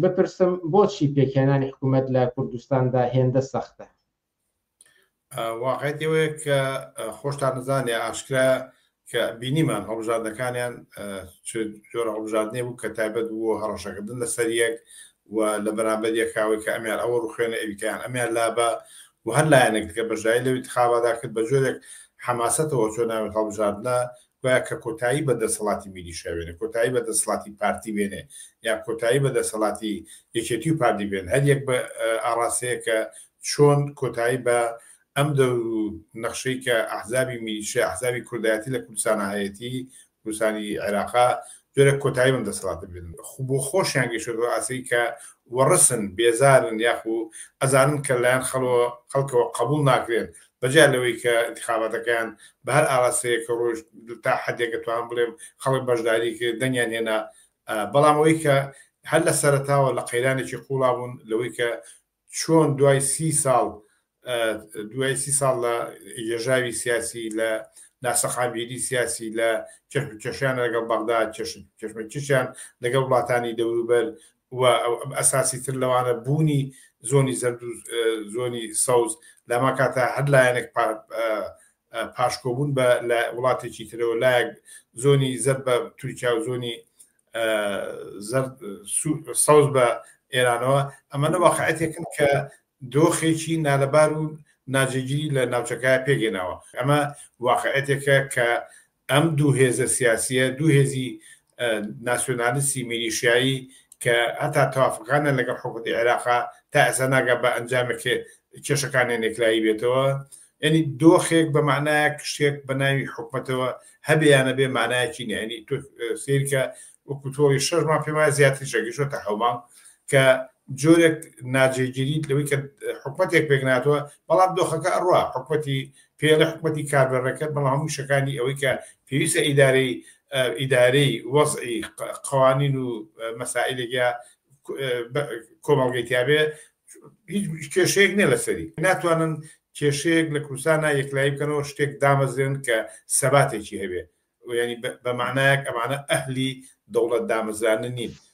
بپرسم بۆچی پێکهێنانی حکومەت لە کوردستاندا هێندە سەختە؟ واقعیەتی ئەوەیە کە خۆشتان نزانێ ئاشکرا کە بینیمان هەڵبژاردنەکانیان جۆرە هەڵبژاردنێ بوو کە تایبەت بوو هەڕەشەکردن لە سەریەک و لە بەرامبەر یەکاوەی کە ئەمیان ئەوە ڕوخێنە ئەویتیان ئەمیان لابە و هەر لایەنێک دیکە بەژای لەوی تخابادا کرد بە جۆرێک حەماسەتەوە چۆ ناوێت هەڵبژاردنە گوایە کە کۆتایی بە دەسەڵاتی میلیشیا بێنێ، کۆتایی بە دەسەڵاتی پارتی بێنێ، یان کۆتایی بە دەسەڵاتی یەکێتی و پارتی بێنێ، هەر یەک بە ئاڕاستەیەک کە چۆن کۆتایی بە ئەم دەور و نەخشەی کە ئەحزابی میلیشیا، ئەحزابی کوردایەتی لە کوردستانا هەیەتی، کوردستانی عێراقا، جۆرێک کۆتایی بەم دەسەڵاتە بێنن، خو بۆ خۆشیان گەیشتووەتە ئەو ئاستەی کە وەڕسن، بێزارن یاخو ئەزانن کە لەلایەن خەڵەوە خەڵکەوە قەبووڵ ناکرێن، بەجیا لەوەی کە ئینتخاباتەکەیان بە هەر ئاراستەیەک ڕۆیشت، تا حەدێک ئەتوانم بڵێم خەڵک بەشداریی کرد، دەنگیان هێنا، بەڵام ئەوەی کە هەر لە سەرەتاوە لە قەیرانێکی قووڵا بوون لەوەی کە چۆن دوای سی ساڵ دوای سی ساڵ لە یێژاوی سیاسی لە ناسەقامگیری سیاسی لە کێشمکێشیان لەگەڵ بەغدا کێشمەکیشیان لەگەڵ وڵاتانی دەوروبەر و ئەساسی تر لەوانە بوونی زۆنی زەرد و زۆنی سەوز لەما کاتە هەر لایەنێک پاشکۆبوون بە لە وڵاتێکی ترەوە لایەک زۆنی زەر بە تورکیا و زۆنی سەوز بە ئێرانەوە ئەمەە واقعەتێکن کە دۆخێکی نالەبار و ناجێگیری لە ناوچەکە پێگەناوە ئەمە واقعەتێکە کە ئەم دوو هێزە سیاسیە دوو هێزی ناسیۆنالیستی میلیشایی کە هەتا توافقانە لەگەڵ حکوتی عێراقا تا ئەسا ناگە بە ئەنجامێک کێشەکانیان نێکلایی بێتەوە یانی دۆخێک بە مەعنایەک شتێک بە ناوی حکومەتەوە هەبێ یان نەبێ مەعنایەکی نیە یانی تۆ سەیر کە وەکو تۆڵی شەش مانگ پێم وایە زیاتریشە گەیشتووەتە حەو مانگ کە جۆرێک ناجێگیریت لەوەی کە حکومەتێک پێک ناتوە بەڵام دۆخەکە ئەڕوا حکومەتی پێڵە حکومەتی کاربەڕێکەر بەڵام هەموو شەکانی ئەوەی کە پێویستە ئیدارەی ئیدارەی وەزعی قوانین و مەسائلێکیا کۆمەڵگەی تیاابێ هیچ کێشەیەک نیە لەسەری ناتوانن کێشەیەک لە کوردستانا یەکلایی بکەنەوە شتێک دامەزرێنن کە سەباتێکی هەبێ یانی بەمانایەک ئەمانە ئەهلی دەوڵەت دامەزرانن نین